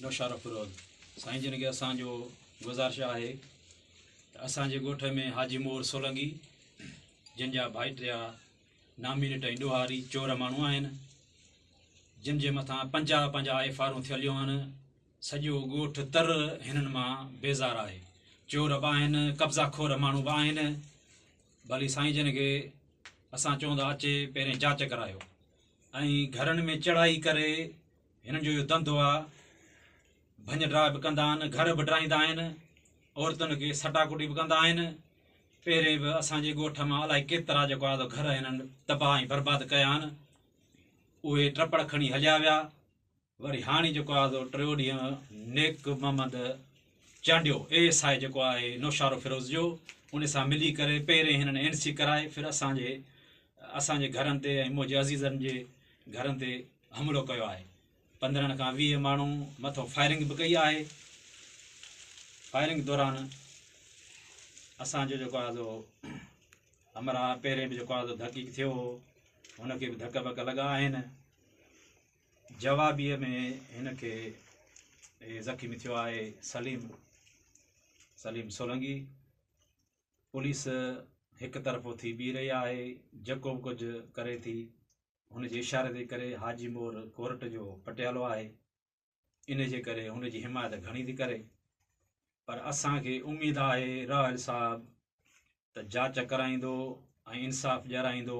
نوشهرو فيروز سائين جن کي اسان جو گذارش آهي ته اسان جي ڳوٺ ۾ حاجي مور سولنگي جن جا ڀائٽيا نامي نٽ ۽ ڏوهاري چور ماڻهو آهن جن جي مٿان پنجاهه پنجاهه ايف آرون ٿيليون آهن سڄو ڳوٺ تر هنن مان بيزار آهي چور به آهن قبضا خور ماڻهو به آهن ڀلي سائين جن کي اسان چوندا اچي پهرين جاچ ڪرايو ۽ گهرن ۾ چڙهائي ڪري هنن جو اهو ڌنڌو آ ڀڃ ڊرا به ڪندا آهن گهر به ڊرائيندا آهن عورتن کي سٽا ڪٽي به ڪندا آهن پهرين به اسان جي ڳوٺ مان الائي ڪيترا جيڪو آدو گهر هنن تباهه ۽ برباد ڪيا آهن اهي ٽپڙ کڻي هليا ويا وري هاڻي جيڪو آدو ٽيو ڏينهن نيڪ Muhammad Chandio A S I جيڪو آهي نوشارو فيروز جو ان سان ملي ڪري پهرين هنن اين سي ڪرائي پھر اسان جي اسان جي گهرن تي ۽ منهنجي عزيزن جي گهرن تي حملو ڪيو آهي پندرهن کان ويهه ماڻهو مٿو فائرنگ به ڪئي آهي فائرنگ دوران اسان جو جيڪو آزو امرا پهرين به جيڪو آزو ڌڪ ٿيو هو ان کي به ڌڪ وڪ لڳا آهن جوابي ۾ هن کي زخمي ٿيو آهي سليم سليم سولنگي پوليس هڪ طرفو ٿي بي رهي آهي جيڪو به ڪجهه ڪري ٿي هن جي اشاري تي ڪري حاجي مور ڪورٽ جو پٽيالو آهي ان جي ڪري هن جي حمايت گهڻي ٿي ڪري پر اسان کي اميد آهي راهل صاحب ته جاچ ڪرائيندو ۽ انصاف ڄرائيندو